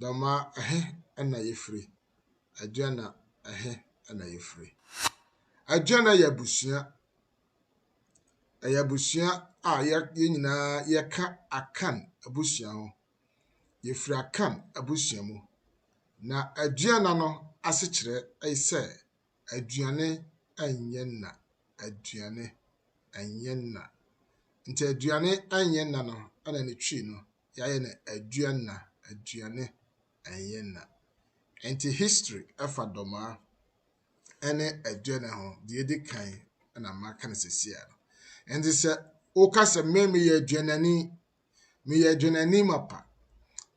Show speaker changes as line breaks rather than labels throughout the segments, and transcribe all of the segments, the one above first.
Dɔm a, ɛhe na yɛfiri? Adriana, Ɛhe na yɛfiri? Adriana yɛ abusua. Ɛyɛ abusua a yɛ yɛn nyinaa yɛka Akan abusua ho. Yɛfiri Akan abusua mu. Na Adriana no asekyerɛ ne sɛ aduane nyɛ nna. Aduane nyɛ nna. Nti aduane nyɛ nna no na ne Twi no yɛayɛ no aduanna aduane ɛnyɛ nna ɛnti history ɛfa dɔmaa ɛne aduane ho deɛ ɛdi kan ɛna maka no sɛsia no ɛnti sɛ woka sɛ me meyɛ aduanani meyɛ aduanani mapa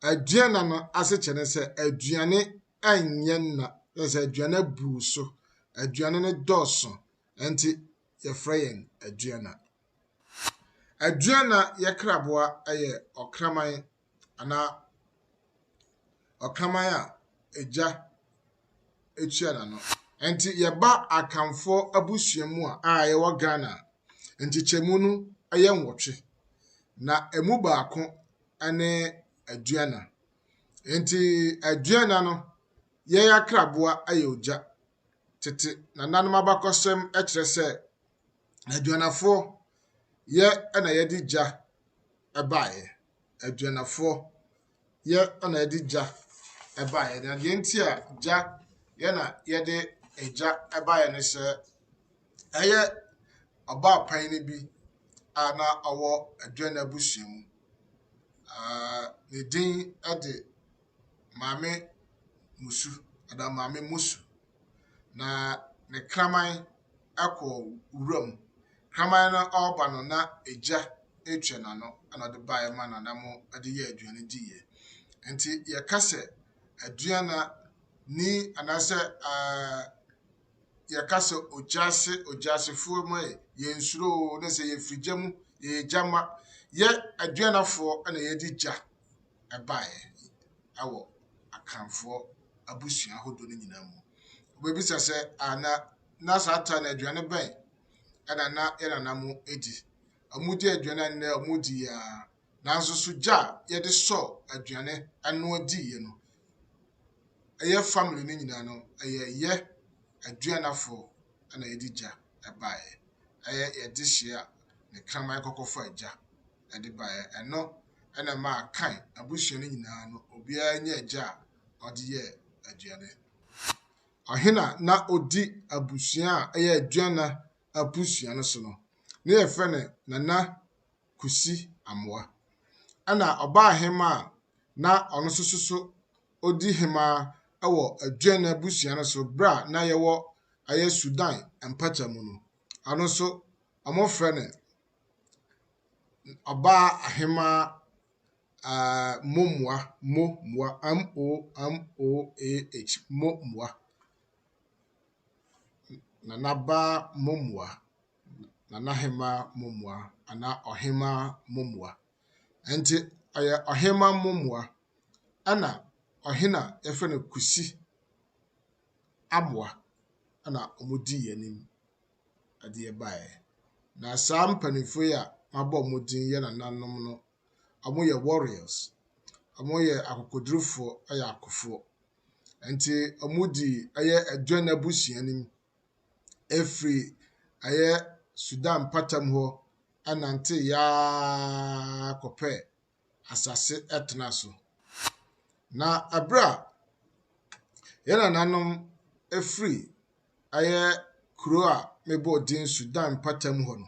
aduana no ase kyɛ ne sɛ aduane ɛnyɛ nna sɛ aduane buu so aduane no dɔɔso ɛnti yɛfrɛ yɛn aduana Aduana yɛ kraboa yɛ ɔkraman anaa ɔkraman a egya tua n'ano. Nti yɛba Akanfoɔ abusua mu a a yɛwɔ Ghana a, nkyekyɛmu no yɛ nwɔtwe. Na ɛmu baako ne aduana. Nti aduana no, yɛn akraboa yɛ ogya. Tete nananom abakɔsɛm kyerɛ sɛ Aduanafoɔ yɛ na yɛde gya baeɛ. Aduanafoɔ yɛ na yɛde gya baeɛ. Na deɛ nti a gya yɛ na yɛde gya baeɛ ne sɛ, ɛyɛ ɔbaapan no bi a na ɔwɔ Aduana abusua mu. Aah ne din de Maame Musu anaa Maame Musu. na ne kraman kɔ wuram. Kraman no ɔreba no, na egya retua n'ano na ɔde baeɛ ma no na mo de yɛ aduane diiɛ. Nti yɛka sɛ aduana ni anaasɛ yɛka sɛ ogyaase ogyasefoɔ mu ɛ yɛnsuro ne sɛ yɛfiri gya mu yɛyɛ gya ma yɛ aduanafoɔ na yɛdi gya. baeɛ wɔ Akanfoɔ abusua ahodoɔ no nyinaa mu. Wobɛbisa sɛ, a na na saa ta no aduane bɛn ɛna na yɛ nana mo di? Wɔdi aduane a nnɛ wɔdi yɛ a, nanso so gya a yɛde sɔ aduane ɛnoa diiɛ no, ɛyɛ family no nyinaa no, ɛyɛ yɛ aduanafoɔ ɛna yɛde gya ɛbaeɛ. Ɛyɛ yɛde hyia ne kraman kɔkɔfa gya. de baeɛ. Ɛno na ɛmaa Kain abusua no nyinaa no, obiara nya gya a ɔde yɛ aduane. Ɔhena na ɔdi abusua a ɛyɛ aduana abusua no so no, ne yɛfrɛ no Nana Kusi Amoa. Ɛna ɔbaa hema a na ɔno nso so so ɔdi hema wɔ aduana abusua no so berɛ a na yɛwɔ ɛyɛ Sudan mpata mu no, ɔno nso wɔfrɛ no Ɔbaa ahemaa aah momoa momoa m-o-m-o-a-h momoa. Nana baa momoa, Nana hemaa momoa anaa ɔhemaa momoa. Ɛnti ɔyɛ ɔhemaa momoa ɛna ɔhene a yɛfrɛ no Kwesi amoa ɛna wɔn di yɛn anim. adeɛ baeɛ. Na saa mpanimfoɔ yi a mabɔ wɔn din yɛ nananom no, wɔyɛ warriors. Wɔyɛ akokodurofoɔ, wɔyɛ akofoɔ. Nti wɔdi ɛyɛ Aduane abusua no mu. Ɛfiri ɛyɛ Sudan mpata mu hɔ nante yaaaa kɔpɛ asase tena so. Na bere a yɛn nananom firi ɛyɛ kuro a mebɔɔ din Sudan mpɔtam hɔ no,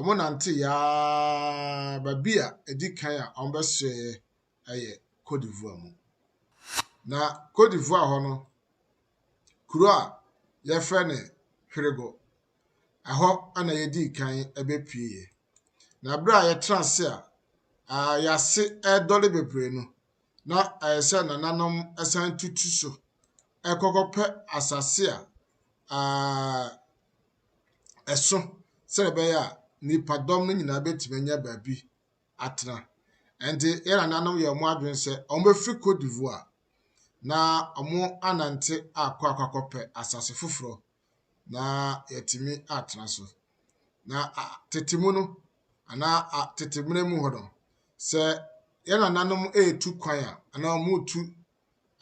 wɔnanteeɛ ara, baabi a ɛdi kan a wɔbɛsoɛɛ yɛ Côte d'Ivoire mu. Na Côte d'Ivoire hɔ no, kuro a wɔfrɛ no Hwerego, ɛhɔ na yɛdii kan bɛpueeɛ. Na berɛ a yɛtra ase a, yɛase redɔre bebree no, na ɛyɛ sɛ nananom san tutu so kɔkɔpɛ asase a ɛso sɛ ɛbɛyɛ a nnipadɔm no nyinaa bɛtumi anya baabi atena. Ɛnti yɛn nananom yɛ wɔn adwene sɛ wɔbɛfiri Cote d'Ivoire na wɔanante akɔ akɔpɛ asase foforɔ na yɛatumi atena so. Na a tete mu no, anaa a tete mmerɛ mu hɔ no, sɛ yɛn nananom retu kwan a, anaa wɔretu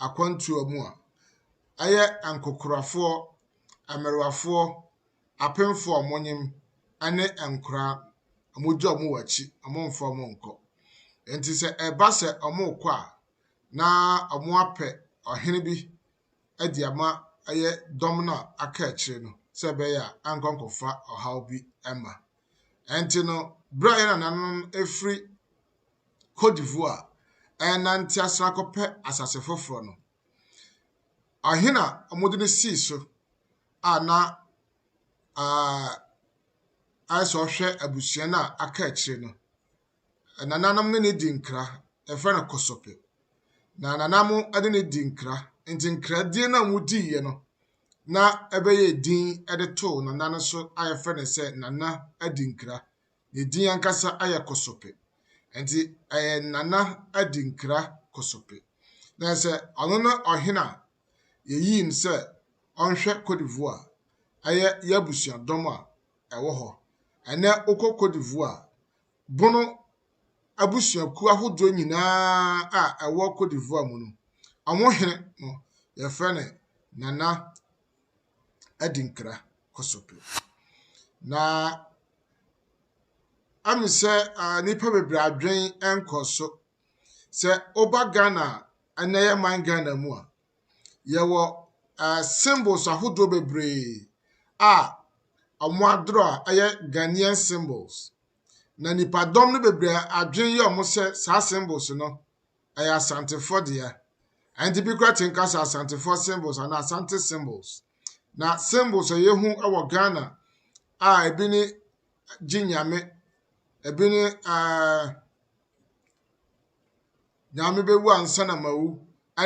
akwantuo mu a, ɛyɛ nkokorafoɔ, mmerewafoɔ, apemfoɔ a wɔnyem ne nkoraa wɔgye wɔn wɔ akyi, wɔmfa wɔn nkɔ. Nti sɛ ɛba sɛ wɔrekɔ a, na wɔapɛ ɔhene bi de ama ɛyɛ dɔm no a aka akyire no sɛ ɛbɛyɛ a ankɔ ankɔfa ɔhaw bi ma. Ɛnti no, berɛ a yɛn nananom ɛfiri Cote d'Ivoire ɛrenante asena akɔpɛ asase foforɔ no, ɔhene a wɔde no sii so a na ayɛ sɛ ɔhwɛ abusua no a aka akyire no, Nananom ne no di nkra, yɛfrɛ no kɔsɔpɛ. Na nanamo de no di nkra, nti nkradie no a wɔdiiɛ no na ɛbɛyɛ din de too nana no so a yɛfrɛ no sɛ nana adi nkra. Ne din ankasa ayɛ kɔsɔpɛ. Nti ɛyɛ nana adi nkra kɔsɔpɛ. Na sɛ ɔno ne ɔhene a yɛyii no sɛ ɔnhwɛ Cote d'Ivoire, ɛyɛ yɛn abusuadɔm a ɛwɔ hɔ. Ɛnɛ wokɔ Cote d'Ivoire Bono abusuakuo ahodoɔ nyinaa a ɛwɔ Côte d'Ivoire mu no, wɔn hene no, yɛfrɛ no Nana Adinkra Kosopil. Na ɛme sɛ nnipa bebree adwen nkɔɔ so. Sɛ woba Ghana a, ɛnnɛ yɛ man Ghana mu a, Yɛwɔ ɛɛ symbols ahodoɔ bebree a wɔadorɔ a ɛyɛ Ghanaian symbols. Na nnipadɔm no bebree a adwene yɛ wɔn sɛ saa symbols no ɛyɛ Asantefoɔ dea. Ɛno nti bi koraa tumi ka sɛ Asantefoɔ symbols anaa Asante symbols. Na symbols a yɛhu wɔ Ghana a ebi ne Gye Nyame, ebi ne ɛɛ. na mebɛwu ansa na mawu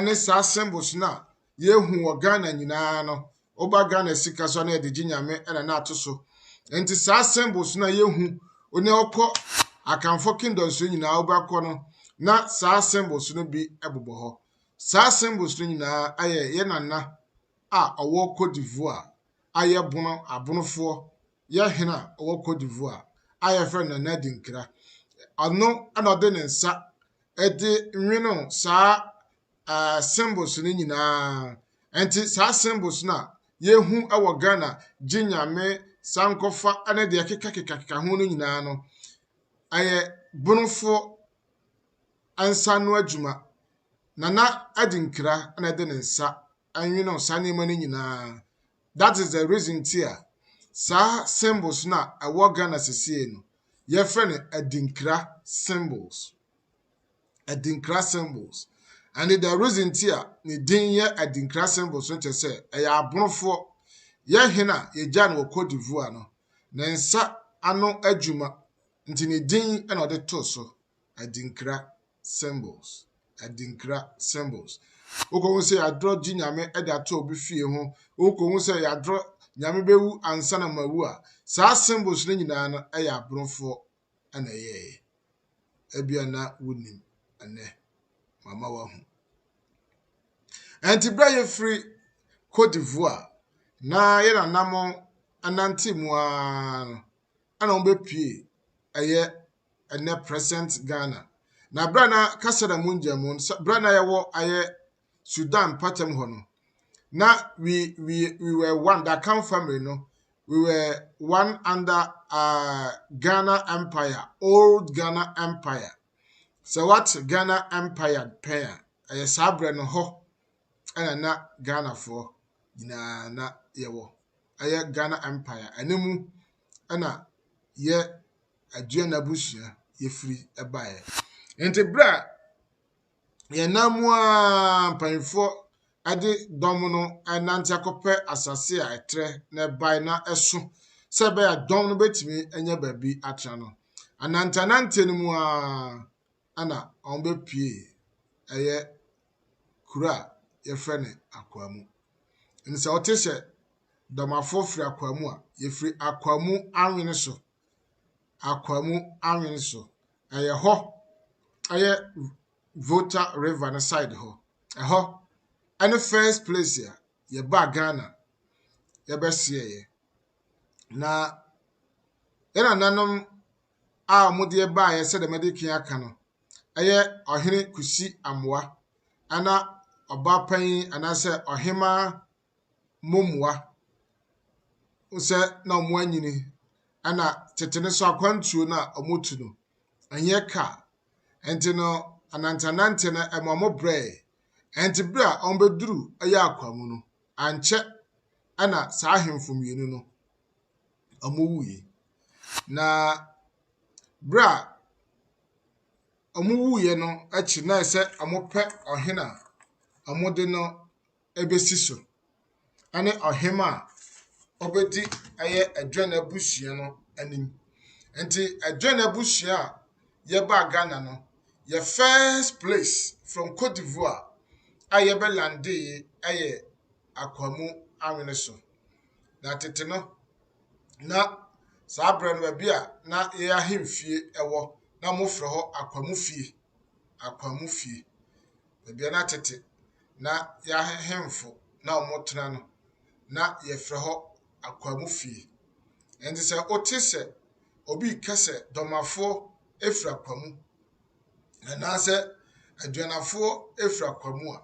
ne saa symbols no a yɛhu wɔ Ghana nyinaa no. Woba Ghana sika so a na yɛde gye Nyame na na ato so. Nti saa symbols no a yɛhu ne wokɔ Akanfoɔ kingdoms no nyinaa wobɛkɔ no na saa symbols no bi bobɔ hɔ. Saa symbols no nyinaa ayɛ yɛ nana a ɔwɔ Cote d'Ivoire a yɛbono abonofoɔ yɛ hene a ɔwɔ Cote d'Ivoire a yɛfrɛ no Nana Adinkra. Ɔno na ɔde ne nsa de nwene saa uh, symbols no nyinaa. Nti saa symbols no a yɛhu wɔ Ghana, gye nyame, sankɔfa ne deɛ kekakekakeka ho no nyinaa no, ɛyɛ bonofoɔ nsa no adwuma. Nana Adinkra na ɛde ne nsa nwene saa nneɛma no nyinaa. that is the reason nti a saa symbols no a ɛwɔ Ghana sisiei no, yɛfrɛ no adinkra symbols. Adinkra symbols. And the reason nti a ne din yɛ adinkra symbols no kyerɛ sɛ ɛyɛ aborofoɔ yɛ hene a yɛgya no wɔ Cote d'Ivoire no ne nsa ano adwuma nti ne din na ɔde too so adinkra. symbols, adinkra symbols. Wokɔhu sɛ yɛadorɔ gye Nyame de ato obi fie ho, wokɔhu sɛ yɛadorɔ Nyame bɛwu ansa na mawu a, saa symbols no nyinaa no ɛyɛ aborofoɔ na ɛyɛɛyɛ. Ebia na wonim ɛnɛ, mama wahu. Ɛnti berɛ a yɛfiri Côte d'Ivoire na yɛn anamɔ ɛnante mu ara no, ɛna wɔbɛpie ɛyɛ ɛnɛ present Ghana. Na berɛ a na Kasada mu ngyɛmu, berɛ a na yɛwɔ ayɛ Sudan mpɔtam hɔ no, na we, we, we were one, the Akan family no, we were one under uh, Ghana Empire, old Ghana Empire. Sɛ what Ghana Empire pɛn a, ɛyɛ saa berɛ no hɔ. ɛna na Ghanafoɔ nyinaa na yɛwɔ. Ɛyɛ Ghana Empire. Ɛno mu ɛna yɛ Aduana abusua yɛfiri baeɛ. Nti berɛ a yɛnam mu a mpanyinfoɔ ɛde dɔm no ɛnante akɔpɛ asase a ɛtrɛ na ɛbae na ɛso sɛ ɛbɛyɛ dɔm no bɛtumi anya baabi atena no. Ananteananteɛ no mu a na wɔbɛpue ɛyɛ kuro a yɛfrɛ no Akwaamu. Ɛnti sɛ wote sɛ Dɔmafoɔ firi Akwaamu a, yɛfiri Akwaamu Anwene so. Akwaamu Anwene so. Ɛyɛ hɔ, ɛyɛ Volta River no side hɔ. Ɛhɔ ɛne first place a yɛbaa Ghana yɛbɛhyeɛeɛ. Na yɛn nananom a wɔde baeɛ sɛdeɛ madi kan aka no, ɛyɛ ɔhene Kusi amoa, ɛna ɔba panyin anaasɛ ɔhemaa momoa sɛ na wɔn anyini ɛna tete no nso akwantuo no a wɔtu no ɛnyɛ kaa ɛnti no ananteanante no ɛma wɔn brɛɛ ɛnti berɛ a wɔbɛduru ɛyɛ akwa mu no ankyɛ ɛna saa ahemfo mmienu no wɔwuiɛ. Na berɛ a wɔwuiɛ no akyi na ayɛ sɛ wɔpɛ ɔhene a wɔde no bɛsi so ne ɔhemaa a ɔbɛdi ɛyɛ Aduane abusua no anim. Nti Aduane abusua a yɛbaa Ghana no, yɛn first place from Cote d'Ivoire a yɛbɛ landeeɛ yɛ akoa mu anwene so. Na tete no, na saa berɛ no baabi a na yɛn ahemfie wɔ, na wɔfrɛ hɔ akoa mu fie. Akoa mu fie. Baabi a na tete na yɛn ahemfo na wɔtena no, na yɛfrɛ hɔ akoa mu fie. Ɛnti sɛ wote sɛ obi reka sɛ dɔmafoɔ firi akoa mu, anaasɛ aduanafoɔ firi akoa mu a,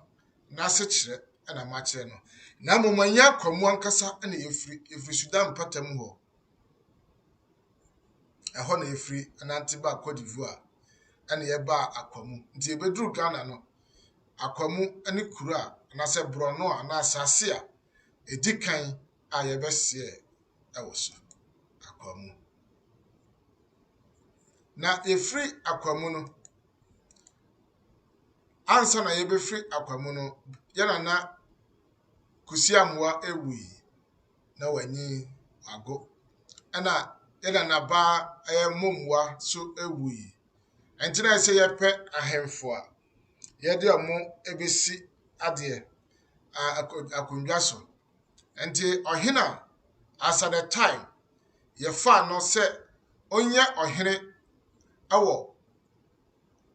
n'asekyerɛ na makyerɛ no, na mmom ɛnyɛ akwamu ankasa na yɛfiri, yɛfiri Sudan mpata mu hɔ. Ɛhɔ na yɛfiri anante baa Cote d'Ivoire, ɛna yɛbaa akwamu. Nti yɛbɛduru Ghana no, akwamu ne kuro a, anaasɛ borɔno a, anaa asase a, ɛdi kan a yɛbɛseɛ ɛwɔ so, akwamu. Na yɛfiri akwamu no, ansa na yebefiri akwa mu no, yɛn nana Kwesi Amoah ewui na wanyin wago. Ɛna yɛn nana baa ɛyɛ Mommoa so ewui. Ɛnti na ɛsɛ yɛpɛ ahemfo a yɛde ɔmo ebesi adeɛ a akondwa so. Ɛnti ɔhena as at the time yɛfaa no sɛ onyɛ ɔhene ɛwɔ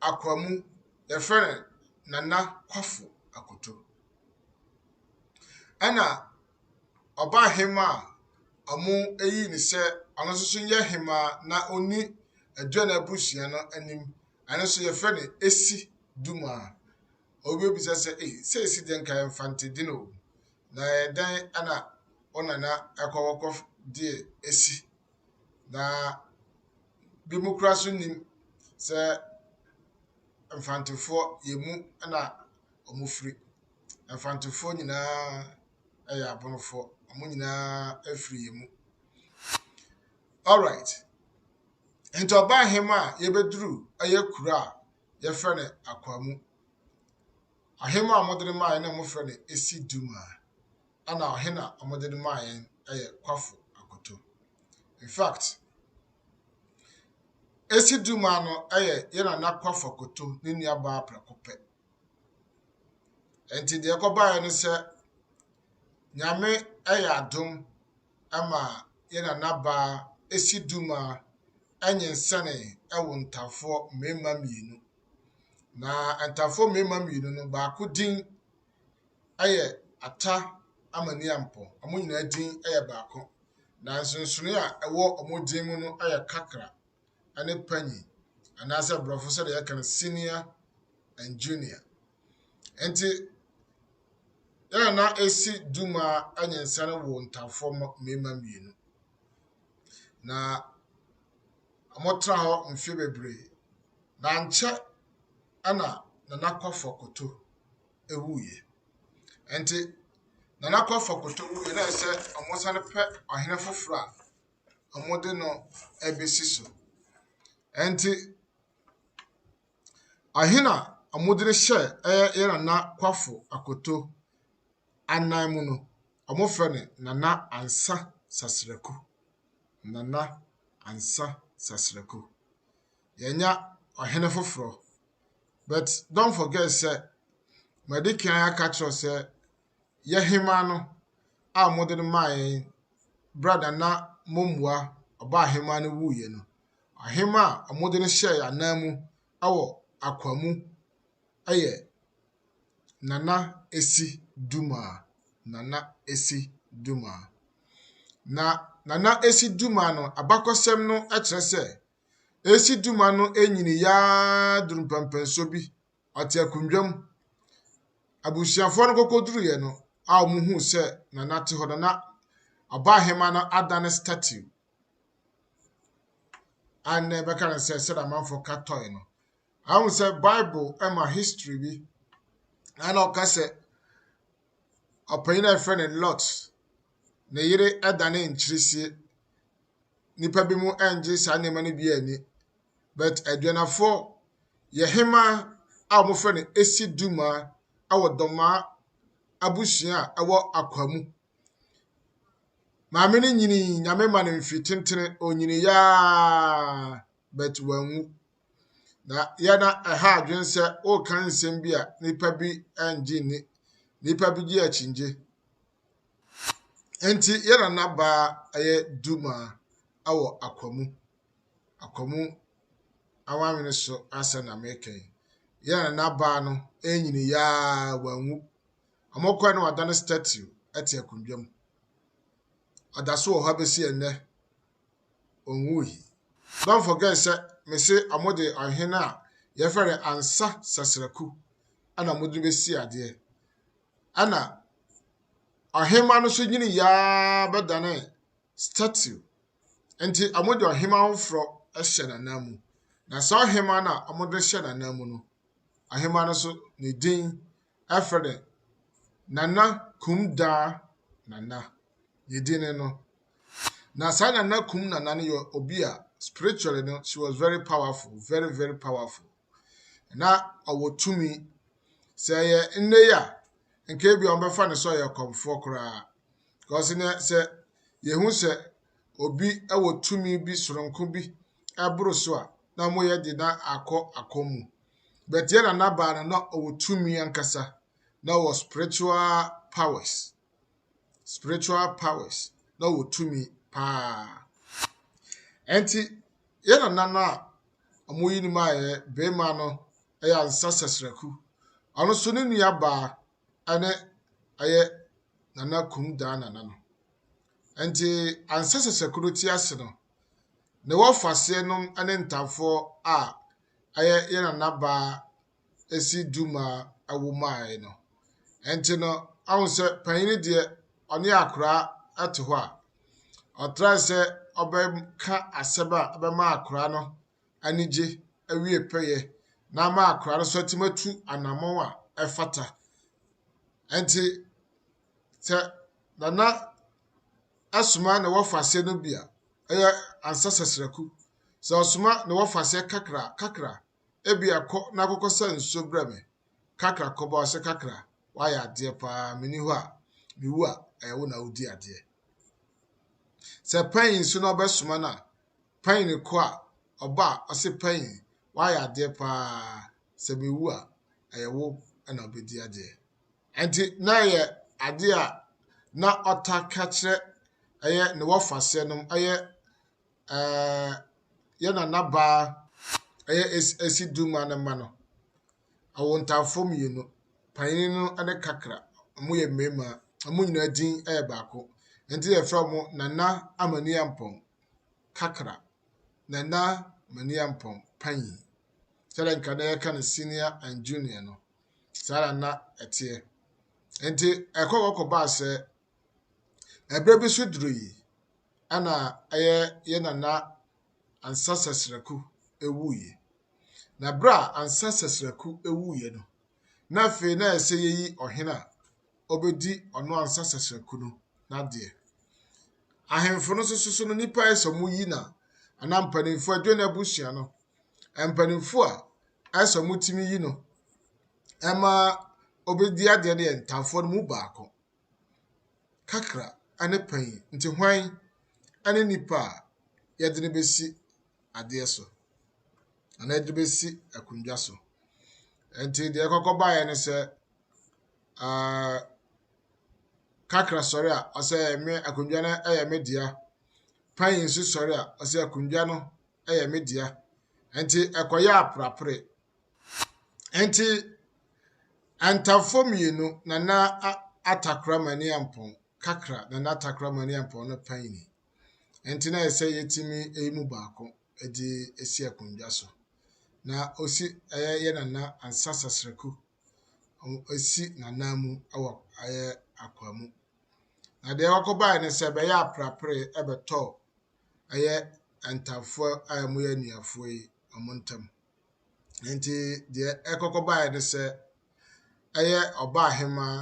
Akwamu, yɛfrɛ no Nana Kwafo Akoto. Ɛna Ɔbahema a wɔayi no sɛ ɔno nso so nyɛ hema na ɔnni Aduane abusua no anim. Ɛno nso yɛfrɛ no Esi Duma. Obi bisa sɛ, ei, sɛ esi dɛn nka yɛmfa ntedin o. Na ɛyɛ dɛn ɛna wo nana ɛkɔ wɔkɔ deɛ esi. Na Bi mo koraa so nnim sɛ Mfantefoɔ yɛn mu na wɔfiri. Mfantefoɔ nyinaa yɛ Abonofoɔ. Wɔn nyinaa firi yɛn mu. Alright. Nti ɔbaa hema a yɛbɛduru ɛyɛ kuro a yɛfrɛ no Akwaamu. Ahema a wɔde no maaeɛ na wɔfrɛ no Esi Duma. Ana ɔhen na wɔdze no maa hɛn yɛ Kwafo Akoto. In fact, Esi Dumah no yɛ yɛn Nana Kwafo Akoto ne nuabaa prɛko pɛ. Ntsi dza ɔkɔbae no sɛ, Nyame yɛ adom ma yɛn nanabaa Esi Dumah nyinsɛnee wɔ Ntafoɔ mmarima mmienu. Na Ntafoɔ mmarima mmienu no, baako din yɛ Ata ama Niampɔ. Wɔn nyinaa din yɛ baako. Na nsonsonoeɛ a ɛwɔ wɔn din mu no yɛ Kakra ne Panyi anaasɛ Borɔfo sɛdeɛ yɛka no Senior and Junior. Nti yɛn na ɛsi Duma nyensa no wɔ ntafoɔ mmarima mmienu. Na Wɔtraa hɔ mfe bebree, na ankyɛ na Nana Kɔfɔ Koto wuiɛ. Nti Nana Kɔfɔ Koto wuiɛ na ɛsɛ sɛ wɔsane pɛ ɔhene foforɔ a wɔde no bɛsi so. Nti ɔhene a wɔde no hyɛɛ ɛyɛ yɛ Nana Kɔfɔ Akoto anan mu no, wɔfrɛ no Nana Ansa Sasraku. Nana Ansa Sasraku. Yɛanya ɔhene foforɔ. But don't forget sɛ madi kan aka kyerɛ wo sɛ yɛ hemaa no a wɔde no maa yɛn berɛ a Nana Momua ɔbaa hemaa no wuiɛ no, ɔhema a wɔde no hyɛɛ yɛn anan mu wɔ Akwamu yɛ Nana Esi Dumaa, Nana Esi Dumaa. Na Nana Esi Dumaa no, abakɔsɛm no kyerɛ sɛ, Esi Dumaa no nyiniiɛ ara duru mpɛmpɛnsoɔ bi, ɔte akonnwa mu. Abusuafoɔ no kɔkɔduruiɛ no a wɔhuu sɛ Nana te hɔ no, na ɔbaahemaa no adane statue a nnɛ yɛbɛka no sɛ sɛdeɛ amanfoɔ ka toy no. Ahu sɛ Bible ma history bi ɛna ɔka sɛ ɔpanyin a yɛfrɛ no Lot ne yere ɛdane nkyirisie. Nnipa bi mu ɛngye saa nneɛma no bi ani. But aduanafoɔ yɛ hema a wɔfrɛ no Esi Duma ɛwɔ Dɔmaa abusua a ɛwɔ Akwamu. Maame no nyinii nyame ma no mfiri tentene onyini yaa but wanwu. Na yɛ na ɛha adwene sɛ woka nsɛm bi a nnipa bi ngye nni. Nnipa bi gye akyingye. Enti yɛ nana baa ɛyɛ dumaa ɛwɔ akwamu. Akwamu awanwene so asɛ na meka yi. Yɛ nana baa no ɛnyini yaa wanwu. Ɔmo kɔɛ na wadane statue ɛte akondwa mu. Ɔda so wɔ hɔ abɛsi ɛnɛ. onwui. Don't forget sɛ mese ɔmo de ɔhene a yɛfrɛ no Ansa Sasraku ɛna ɔmo de besi adeɛ. Ɛna ɔhema no so nyini yaa bɛdane statue. Nti ɔmo de ɔhema foforɔ hyɛ n'anan mu. Na saa ɔhema no a ɔmo de hyɛ n'anan mu no, ɔhema no so ne din afrɛ no Nana Kumdaa Nana, ne din ne no. Na saa Nana Kum Nana no yɛ obi a spiritually no she was very powerful, very very powerful. Na ɔwɔ tumi. Sɛ yɛ nnɛ yi a, nka ebi a wɔbɛfa no sɛ ɔyɛ kɔmfoɔ koraa. Because nɛ sɛ yɛhu sɛ obi wɔ tumi bi soronko bi ɛboro so a, na wɔyɛ de na akɔ akɔm mu. But yɛ nana baa no na ɔwɔ tumi ankasa na ɔwɔ spiritual powers spiritual powers na ɔwɔ tumi paa ɛnti yɛ nana no a ɔmo yi no mu ayɛ bɛrima no ɛyɛ ansa sasraku ɔno so ne nua baa ɛne ɛyɛ nana kum daa nana no ɛnti ansa sasraku no ti ase no ne wɔfa seɛ nom ɛne ntamfoɔ a ɛyɛ yɛn nanabaa si duma awo mae no. Ɛnti no, ɔhu sɛ panyini deɛ ɔne akoraa te hɔ a, ɔtrae sɛ ɔbɛka asɛm a ɛbɛma akoraa no anigye awie pɛyɛ na ama akoraa no so atim atu anammɔn a ɛfata. Ɛnti sɛ nana ɛsoma ne wɔfa aseɛ no bi a, ɛyɛ ansa sasraku. Sɛ ɔsoma ne wɔfasɛ kakra kakra, ebia kɔ na kɔkɔsa nsuo brɛ me kakra kɔba ɔsɛ kakra, woayɛ adeɛ paa, menni hɔ a, mewu a, ɛyɛ wo na wodi adeɛ. Sɛ panyin nso na ɔbɛsoma no a, panyin no kɔ a, ɔba a, ɔse panyin, woayɛ adeɛ paa, sɛ mewu a, ɛyɛ wo na wobɛdi adeɛ. Enti na ɛyɛ ade a na ɔtaa ka kyerɛ ɛyɛ ne wɔfaseɛ nom ɛyɛ ɛɛ yɛ nana baa ɛyɛ esi esi duma ne mma no ɛwɔ ntaafo mmienu panyin no ɛne kakra wɔn yɛ mmarima wɔn nyinaa din ɛyɛ baako nti yɛfrɛ wɔn nana amani ampɔn kakra nana amani ampɔn panyin sɛdeɛ nka na yɛka no senior and junior no. Saa ara na ɛteɛ. Enti ɛkɔ hɔ kɔbaa sɛ ɛberɛ bi so duru yi ɛna ɛyɛ yɛ nana Ansa Sɛsrɛku ɛwuiɛ. Na berɛ a Ansa Sɛsrɛku ɛwuiɛ no, na afei na ɛsɛ yɛyi ɔhene a ɔbɛdi ɔno Ansa Sɛsrɛku no n'adeɛ. Ahemfo no nso so no nnipa ɛsɛ ɔmo yi na anaa mpanimfoɔ adwane abusua no mpanimfoɔ a sɛ wɔtumi yi no ma obedi adeɛ no yɛ ntanfoɔ no mu baako. Kakra ne panyin nti hwan ne nipa a yɛde no bɛsi adeɛ so anaa yɛde no bɛsi akonnwa so. Nti deɛ ɛkɔkɔ baeɛ ne sɛ uh, kakra sɔre a ɔsɛ me akonnwa no yɛ me dea. Panyin nso sɔre a ɔsɛ akonnwa no yɛ me dea. Enti ɛkɔyɛ aprapre. Enti Antafo mmienu, Nana Atakora Maniampɔn kakra, Nana Atakora Maniampɔn no panyini. Enti na ɛsɛ yɛtumi yi mu baako de si akonnwa so. Na ɔsi ɛyɛ yɛ Nana Ansa Sasraku. Ɔsi Nana mu wɔ ɛyɛ akwa mu. Na deɛ ɔkɔbaeɛ no sɛ ɛbɛyɛ aprapre ɛbɛtɔ ɛyɛ Antamfoɔ a wɔyɛ anuafoɔ yi wɔn ntam. Nti deɛ ɛkɔkɔ baeɛ ne sɛ ɛyɛ Ɔbaahemaa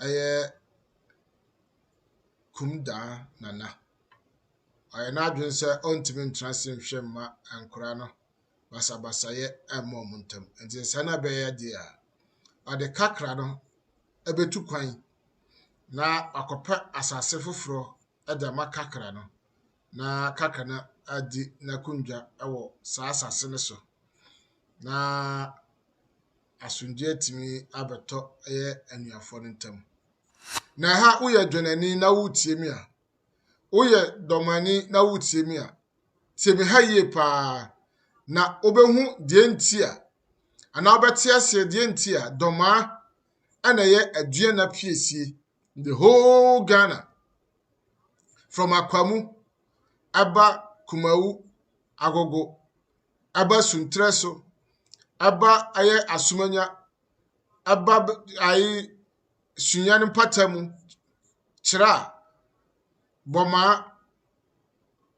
ɛyɛ Kumdaa Nana. Ɔyɛ n'adwene sɛ ɔntumi ntena ase nhwɛ mma nkwadaa no basabasayɛ mma wɔn ntam. Nti sɛ na ɛbɛyɛ deɛ a, ɔde kakra no ɛbɛtu kwan na wakɔpɛ asase foforɔ de ama Kakra no, na Kakra no adi n'akondwa wɔ saa asase no so, na asomdwoeɛ atumi abɛtɔ ɛyɛ anuafoɔ no ntam. Na ɛha woyɛ dwɛnani na woretie me a, woyɛ dɔmani na woretie me a, tie me ha yie paa na wobɛhu deɛ nti a anaa wobɛte aseɛ deɛ nti a dɔmaa ɛna ɛyɛ aduana piesie the whole Ghana, from Akwamu, Abba Kumawu, Agogo, Abba Suntreso, Abba Aye Asumanya, Abba Aye Sunyan Patamu, Chira, Boma,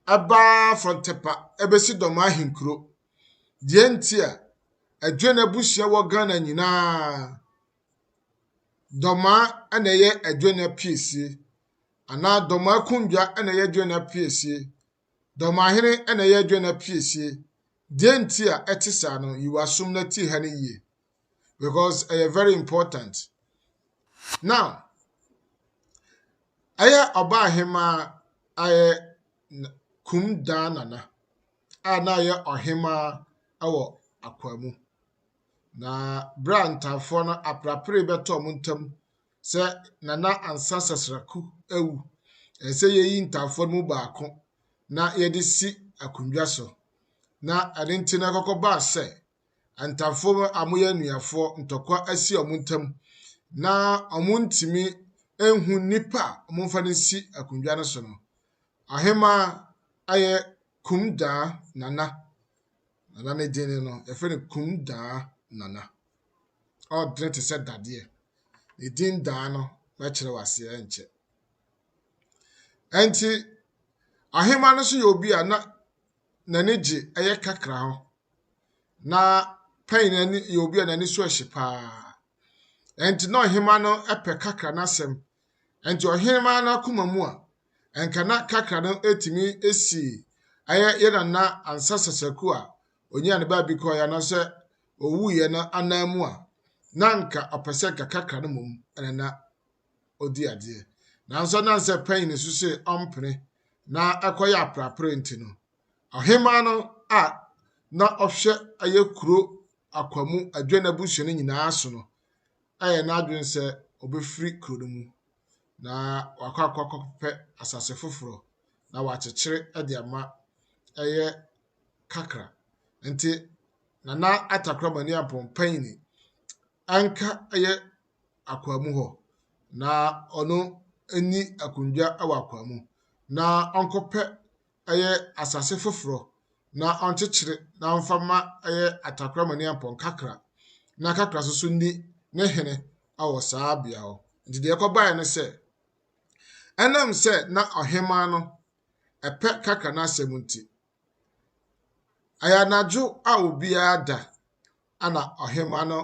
Abba from Tepa, Ebesi Doma Hinkro. Dientia, Adwene Busia Wagana Nina, Dɔmaa na ɛyɛ Adwena piesie anaa Dɔmaa konnwa na ɛyɛ Adwena piesie. Dɔmahene na ɛyɛ Adwena piesie. Deɛ nti a ɛte saa no, yi w'asom na tie ha no yie because ɛyɛ very important. Now, ɛyɛ ɔbaa hemaa ayɛ Kum Daa Nana a na ɔyɛ ɔhemaa wɔ Akwaa mu. Na bere a ntanfoɔ no aperapere bɛtɔ wɔn ntam sɛ Nana Ansa Sasraku awu, ɛsɛ sɛ yɛyi ntanfoɔ no mu baako na yɛde si akonnwa so. Na ɛno nti na ɛkɔkɔbaa sɛ ntanfoɔ a wɔyɛ anuafoɔ ntɔkwa asi wɔn ntam na wɔntumi nhu nnipa a wɔmfa no nsi akonnwa no so no. Ɔhemaa ayɛ Kumdaa Nana. Nana no din no, yɛfrɛ no Kumdaa Nana. Ɔdene te sɛ dadeɛ. Ne din daa no, mɛkyerɛ wo aseɛ nkyɛ. Ɛnti, ahema no nso yɛ obi a na n'ani gye ɛyɛ kakra ho. Na pɛn n'ani yɛ obi a n'ani so ɛhye paa. Ɛnti na ɔhema no pɛ kakra n'asɛm Ɛnti ɔhenemaa no akoma mu a, ɛnka na kakra no ɛtumi ɛsi ɛyɛ yɛ nana ansa sasaku a ɔnyaa ne baabi kɔeɛ anaasɛ ɔwuiɛ no anan mu a, na anka ɔpɛ sɛ nka kakra no mmom ɛna na ɔdi adeɛ. Nanso ɛnam sɛ pɛn ne su se ɔmpene na ɛkɔyɛ aprapre nti no, ɔhemaa no a na ɔhwɛ ɛyɛ kuro akwamu adwene abusua no nyinaa so no, ayɛ n'adwene sɛ ɔbɛfiri kuro no mu na wakɔ akɔ akɔpɛ asase foforɔ na wakyekyere de ama ɛyɛ kakra. Nti Nana Atakora Maniampɔn Panyini anka ɛyɛ akwaa mu hɔ na ɔno nni akondwa wɔ akwaa mu na ɔnkɔpɛ ɛyɛ asase foforɔ na ɔnkyekyere na ɔmfa mma ɛyɛ atakorama ne apɔnkakra na kakra nso so nni ne hene wɔ saa bea hɔ. Nti deɛ ɛkɔbaeɛ ne sɛ, ɛnam sɛ na ɔhemaa no ɛpɛ kakra no asɛm nti, ɛyɛ anadwo a obiara da ana ɔhemaa no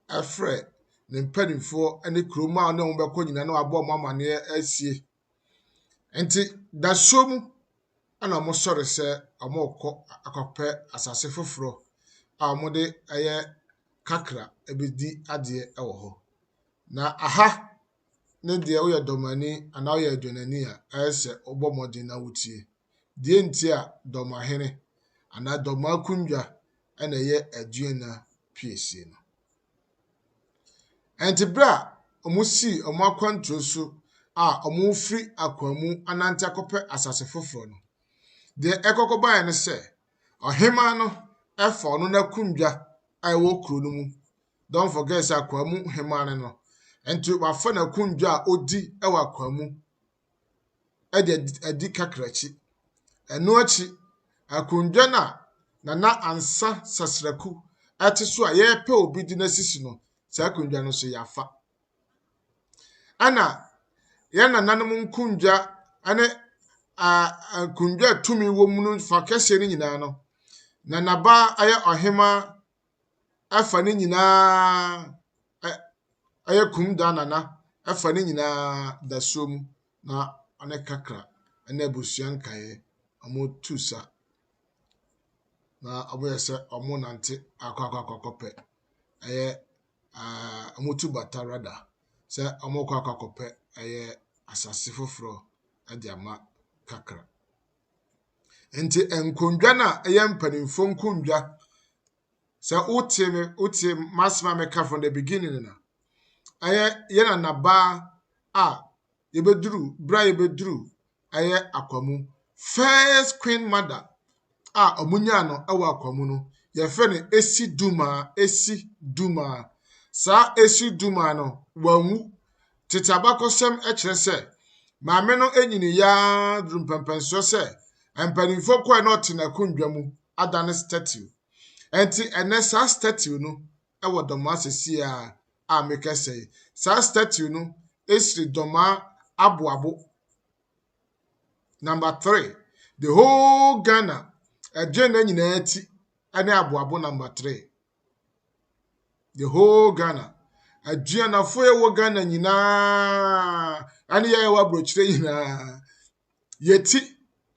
ɛfrɛ ne mpanimfoɔ ne kurom a ɔne wɔn bɛkɔ nyinaa na wabɔ wɔn amaneɛ asie Enti dasuo mu na wɔsɔre sɛ wɔrekɔ akɔpɛ asase foforɔ a wɔde ayɛ kakra bɛdi adeɛ wɔ hɔ. Na aha ne deɛ woyɛ dɔmani anaa woyɛ dwonani a, ayɛ sɛ wobɔ mmɔden na wotie. Deɛ nti a, dɔmahene anaa dɔmaakonnwa na ɛyɛ Aduana piesie no. Enti bere a wɔsii wɔn akwantuo so a wɔrefiri akoa mu anante akɔpɛ asase foforɔ no, deɛ ɛkɔ kɔbaeɛ ne sɛ, ɔhemaa no fa ɔno n'akonnwa a ɛwɔ kuro no mu, don't forget sɛ akoa mu hemaa ne no, nti wafa n'akonnwa a ɔdi wɔ akoa mu de adi kakraki. Ɛno akyi, akonnwa no a Nana Ansa Sasraku te so a yɛrepɛ obi de no asisi no, saa akonnwa no nso yɛafa. Ɛna yɛn nananom nkonnwa ne nkonnwa a tumi wɔ mu no fa kɛseɛ no nyinaa no, Nanaba yɛ ɔhemaa ɛfa ne nyinaa ɛyɛ kum da nana ɛfa ne nyinaa dasuo mu na ɔne kakra ɛne abusua nkaeɛ ɔmo tu sa na ɔmo yɛ sɛ ɔmo nante akɔ akɔ akɔ akɔpɛ ɛyɛ ɛɛ ɔmo tu bata rada sɛ ɔmo kɔ akɔ akɔpɛ ɛyɛ asase foforɔ ɛde ama kakra. Nti nkonnwa no a ɛyɛ mpanimfoɔ nkonnwa, sɛ wote me wote m'asɛm a meka from the beginning no a, ɛyɛ yɛn nanabaa a yɛbɛduru berɛ a yɛbɛduru ɛyɛ akwamu first queen mother a wɔnyaa no wɔ akwamu no yɛfrɛ no esi dumaa esi dumaa saa esi dumaa no wanwu Tete abakɔsɛm kyerɛ sɛ maame no nyinii ara duru mpɛmpɛnsoɔ sɛ mpanimfoɔ kɔɛ na ɔte n'akonnwa mu adane statue. Ɛnti ɛnɛ saa statue no wɔ dɔmaa sɛsie a a mekɛsɛ yi. Saa statue no siri dɔmaa aboabo number three. The whole Ghana ɛdwene na nyinaa ti ɛne aboabo number three. The whole Ghana. Aduanafo a ɛwɔ Ghana nyinaa ɛne yɛn a ɛwɔ aburokyire nyinaa. Yɛti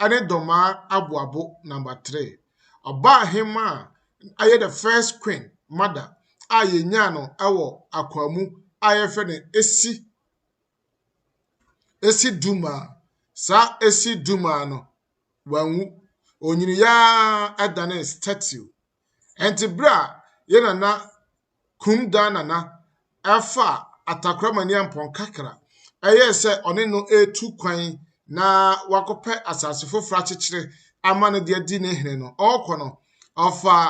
ɛne Dɔmaa aboabo number three. Ɔbaa hema a ɛyɛ the first queen mother a yɛnyaa no ɛwɔ Akwaamu a yɛfrɛ no Esi Esi Duma. Saa Esi Duma no wanwu. Onyiniyaa ɛdane statue. Ɛnti berɛ a yɛ nana Krum Daa Nana faa Atakramani Ampɔn Kakra yɛɛ sɛ ɔne no retu kwan na wakɔpɛ asase foforɔ akyekyere ama no de adi ne hene no, ɔrekɔ no, ɔfaa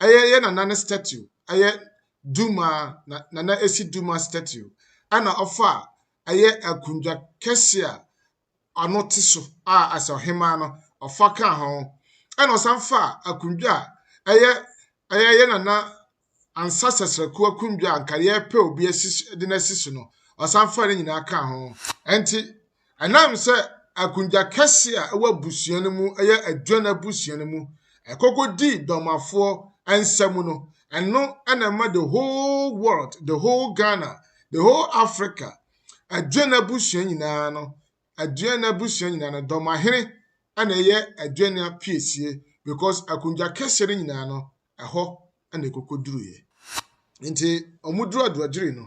ɛyɛ yɛ nana ne statue, ɛyɛ Duma, na nana ɛsi Duma statue, ɛna ɔfaa ɛyɛ akundwa kɛseɛ a ano te so a asɛ ɔhemaa no ɔfa ka ho, ɛna ɔsan fa akondwa a ɛyɛ ɛyɛ yɛ nana ansa sɛsrɛko akondwa a nka yɛpɛ obi asi de no asi so no ɔsan fa ne nyinaa ka ho ɛnti ɛnam sɛ akondwa kɛse a ɛwɔ abusua no mu ɛyɛ aduan abusua no mu ɛkɔkɔ di dɔmafoɔ nsa mu no ɛno ɛna ɛma the whole world the whole Ghana the whole Africa Adwen abusua nyinaa no Adwen abusua nyinaa no Dɔmahene na ɛyɛ Adwen apiesie because akonnwa kɛseɛ no nyinaa no ɛhɔ na ɛkɔkɔduruiɛ. Nti wɔduru Aduagyiri no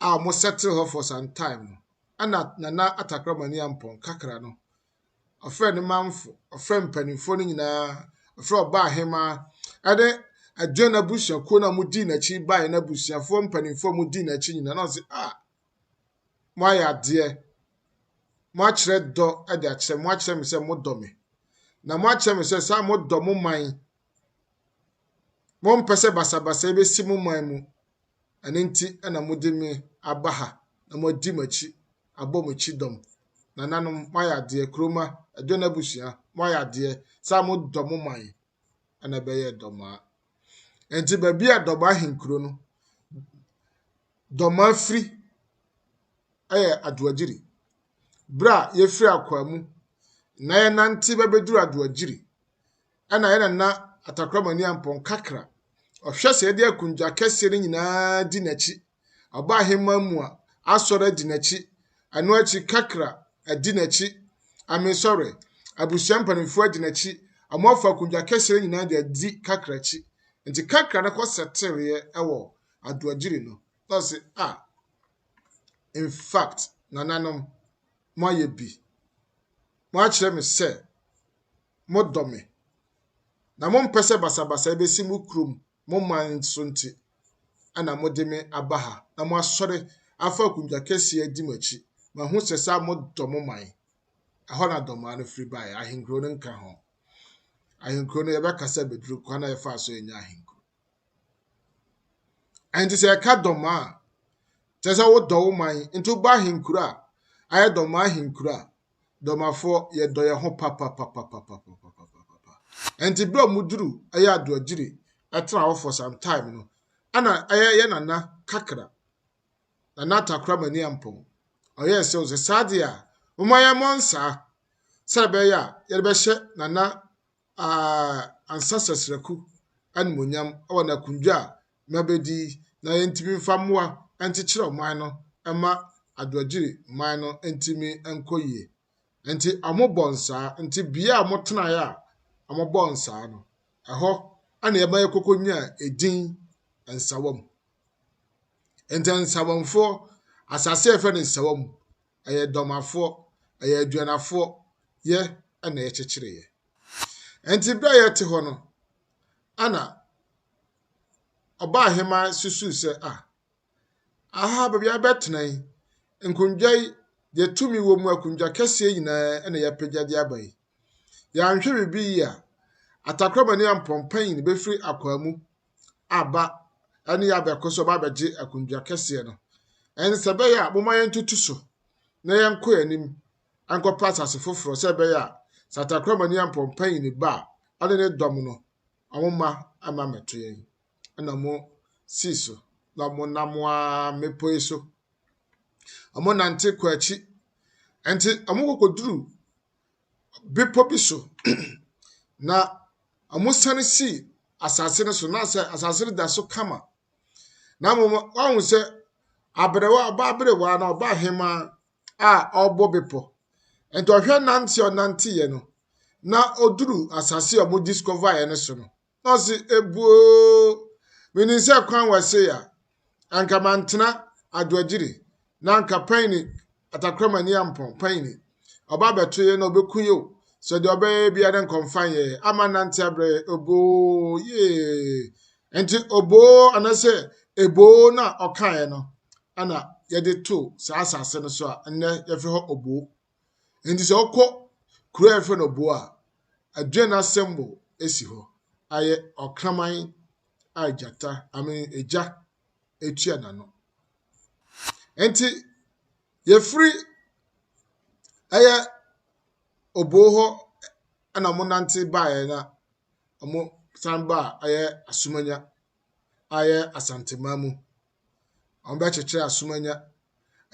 a wɔsettle hɔ for some time no ɛna Nana Atakorɔmani Ampɔn Kakra no ɔfrɛɛ ne manfo, ɔfrɛɛ mpanimfoɔ no nyinaa, ɔfrɛɛ ɔbaa hemaa, ɛne ɛdwe n'abusuakuo no a wɔdii n'akyi baeɛ n'abusuafoɔ mpanimfoɔ a wɔdii n'akyi nyinaa na ɔse a ah, moayɛ adeɛ moakyerɛ dɔ de akyerɛ moakyerɛ me sɛ modɔ me na moakyerɛ me sɛ saa modɔ mo man mompɛ sɛ basabasa bɛsi mo man mu Ɛno nti na mode me aba ha na moadi m'akyi abɔ me kyidɔm. Nananom, moayɛ adeɛ, kuromma, aduane abusua, moayɛ adeɛ sɛ a modɔ mo man na ɛbɛyɛɛ dɔmaa. Enti baabi a dɔmaa ahenkuro no, dɔmaa firi yɛ adoagyiri. Berɛ a yɛfiri akwaa mu na yɛnante bɛbɛduru adoagyiri Ɛna yɛ nana Atakorama ni ampɔn kakra. Ɔhwɛ sɛ yɛde akondwa akɛseɛ no nyinaa di n'akyi. Ɔba aheman mu a, asɔre adi n'akyi. Ɛno akyi kakra, adi n'akyi. I mean sorry, abusua mpanimfoɔ adi n'akyi. Wɔn afa akondwa akɛseɛ no nyinaa de adi kakra akyi. Nti kakra no kɔ sɛtereɛ ɛwɔ Adoagyiri no. Na ɔse ah in fact nananom mo ayɛ bi. Mo akyerɛ me sɛ. modɔ me, na mompɛ sɛ basabasayɛ bɛsi mo kurom, mo man so nti na mode me aba ha na moasɔre afa akundwa kɛseɛ adi m'akyi. Mahu sɛ saa modɔ mo man. Ɛhɔ na dɔmaa no firi baeɛ, ahenkuro no nka ho. Ahenkuro no yɛbɛka sɛ bɛduru kwan a yɛfaa so yɛnya ahenkuro. Ɛnti sɛ yɛka dɔmaa a, kyerɛ sɛ wodɔ wo man, nti woba ahenkuro a, ayɛ dɔmaa ahenkuro a, Dɔmafoɔ, yɛdɔ yɛn ho papapapapapapapapapa. Ɛnti berɛ a ɔmo duru ɛyɛ adoagyiri ɛtena hɔ for some time no, ɛna ɛyɛ yɛ nana kakra, nana atakora mani ampɔn. Ɔyɛ sɛ ɔsɛ saa deɛ a, ɔmo ayɛ mɔ nsaa sɛ ɛbɛyɛ a yɛde bɛhyɛ nana aa ansa sɛsrɛku animonyam ɛwɔ n'akundwa a na bedi na yentumi mfa mmoa nkyekyere ɔman no mma Adoagyiri man no ntumi nkɔ yie. Nti wɔbɔ nsaa, nti bea a wɔtenaeɛ a wɔbɔɔ nsaa no, ɛhɔ na ɛma yɛkɔkɔnyaa edin Nsawam. Nti Nsawamfoɔ, asase a yɛfrɛ no Nsawam, ɛyɛ Dɔmafoɔ, ɛyɛ Aduanafoɔ yɛ na yɛkyekyereeɛ. Nti berɛ a yɛte hɔ no, ɛna ɔbaa hema susuw sɛ, 'Ah, aha baabi a yɛbɛtena yi, nkongua yi, deɛ tumi wɔ mu akongua akɛseɛ nyinaa na yɛapagya de aba yi. Yɛanhwɛ biribi yie a, atakorɔmani ampɔnpanyin no bɛfiri akwaa mu aba ɛne yɛ abɛko so ɔba abɛgye akongua akɛseɛ no. Ɛnsɛ bɛyɛ a, momma yɛntoto so na yɛnkɔ yɛn anim nkɔpɛ asase foforɔ sɛ ɛbɛyɛ a, sɛ atakorɔmani ampɔnpanyin ba a, ɔne ne dɔm no a mo mma mma mɛto yɛn, ɛna mo sii so na mo nam ara mmepɔ yi so. Wɔn nante kɔ akyi, ɛnti wɔn kɔkɔ duru bepɔ bi so, na wɔn sane sii asase no so, na sɛ asase no da so kama. Na mo wɔn sɛ abrewa ɔbaa abrewa na ɔbaa hemaa a ɔrebɔ bepɔ. Nti ɔhwɛ nante a ɔnanteeɛ no, na ɔduru asase a wɔdiscoverɛ no so no, na ɔse, ebuoo, menim sɛ kwan wɔ se a, anka mantena adwagyiri, na anka panyini, atakramani ampɔn, panyini, ɔba abɛto yɛ na ɔbɛku yɛ o, sɛ deɛ ɔbɛyɛ bia dɛ nka ɔmfa yɛ, ama nante abrɛ yɛ, oboo, yee. Nti oboo anasɛ eboo no a ɔkaeɛ no, na yɛde too saa asase no so a nnɛ yɛfrɛ hɔ Obo. Enti sɛ wokɔ kuro a yɛfrɛ no Obo a, aduane asɛmbo si hɔ. Ayɛ ɔkraman a gyata, I mean, egya etua n'ano. Enti yɛfiri ɛyɛ Obo hɔ na wɔnante baeɛ na wɔsan baa ɛyɛ Asumanya ayɛ Asanteman mu. Wɔbɛkyekyɛ Asomanya.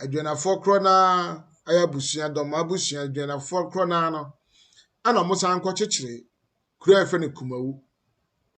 Adwanafoɔ korɔ no ara ayɛ abusua, Dɔmaa abusua, Adwanafoɔ korɔ no ara no, ɛna wɔsan kɔkyekyere kuro a yɛfrɛ no Kumawu.